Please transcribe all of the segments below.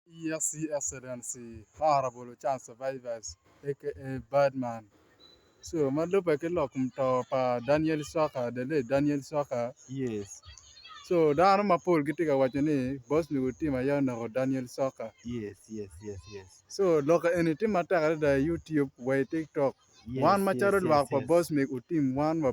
ESC Excellency Honourable Charles Survivors aka Badman Sure ma lubbe ki lok muto pa Daniel Swaker, the late Daniel Swaker, Yes. So dano mapol gitye ka waco ni Bosnia nyo tim aye oneko Daniel Swaker. Yes, yes, yes, yes. So lok eni tye matek adada i YouTube wa i TikTok. Yes, wan yes, macalo yes, lwak pa yes. Bosmic utim wan wa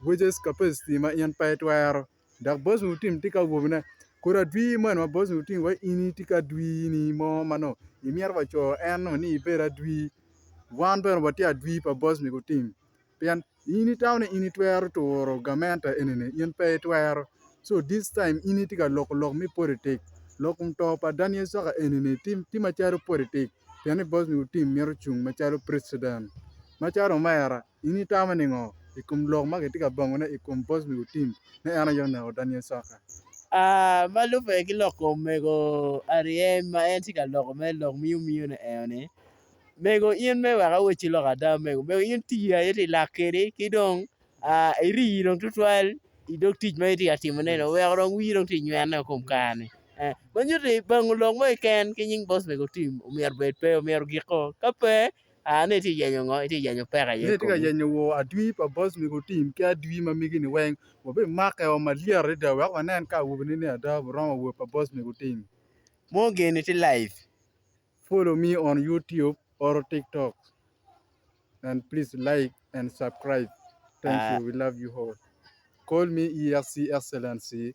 Burgess Capacity ma in pe itwero, dok Boss Mutim tye ka wobine. Kodi adwir moni ma Boss Mutim wa in itye ki adwirni mo ma nongo imito wa co en nongo ni ibed adwir, wan bene watye adwir pa Boss Mutim. Pien in itamo ni in itwero turo gamente eni-ni, in pe itwero. So this time in itye ka loko lok me politic. Lok kom to pa Daniel Saka eni-ni tye tye macalo politic pien ni Boss Mutim mito cung macalo president. Macalo omera, In itamo ningo i kom lok ma kitye ka bangone i kom bocmi Utim ni en aye oneko Daniel Soka? A Ma lubbe ki lok kom mego Ariel ma en tye ka loko mere, lok miyomiyone eo ni, Mego in mere wek awe ci lok ada mego, mego in tii aye ti lak kedi ki dong a irii dong tutwal i dog tic ma itye ka timo ne ni oweko dong wii dong ti nywene o kom kare ni e ma nyuto ni bango lok mo keken ki nying bocmego Utim omyero bed pe omyero giko ka pe Aa ni itye ka yenyo ngo? Itye ka yenyo peko aye i komi? Yenyo wor adwi pa boss mego otim ki adwi ma megi ni weng wabi make o malyet adada wek wanen ka awobi ni ni ada bu romo wor pa boss mego otim. Mo geni tye live. Follow me on YouTube or TikTok and please like and subcribe thank you we love you all call me EXC excellency